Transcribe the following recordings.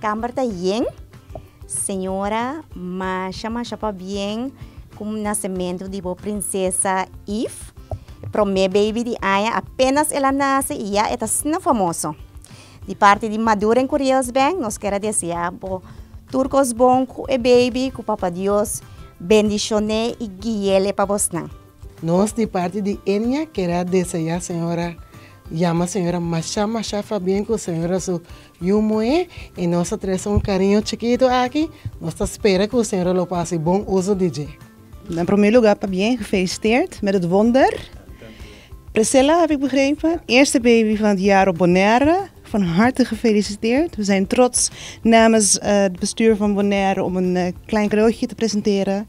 Camber ta yen. Señora masha masha pabien cu nacemento di bo princesa Eve. E prome baby di Anja apenas el a nace y ya e ta snel famoso. Di parti di Madura en Curiels Bank nos keda desea bo tur cos bon cu e baby cu Papa Dios bendicione y guiele pa bosnan. Nos di parti di Enya keda desea señora yama señora masha masha fabien cu señora su Yu moe i nos ta trese un kariño chikitu aki, nos ta spera ku señora lo pase bon uso di dje. En promé lugá ta bien gefelisiteerd met et wonder. Priscilla heb ik begrepen, eerste baby van het jaar op Bonaire. Van harte gefelisiteerd. We zijn trots namens het bestuur van Bonaire om een klein cadeautje te presenteren.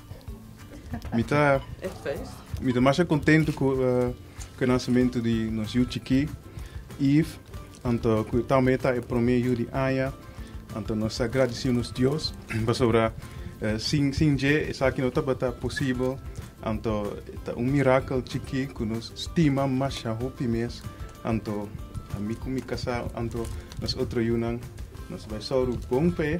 Mi ta, mi ta masha contento cu uh, cu nacimiento di nos yu chiqui, Eve, anto cu también ta el primer yu di aña, anto nos agradecido nos Dios, pasobra uh, sin, sin je, esa aquí no tabata posible, anto ta un miracle chiqui cu nos stima masha hopi mes, anto a mi cu mi casa, anto nos otro yunan, nos vai sauru bon pe,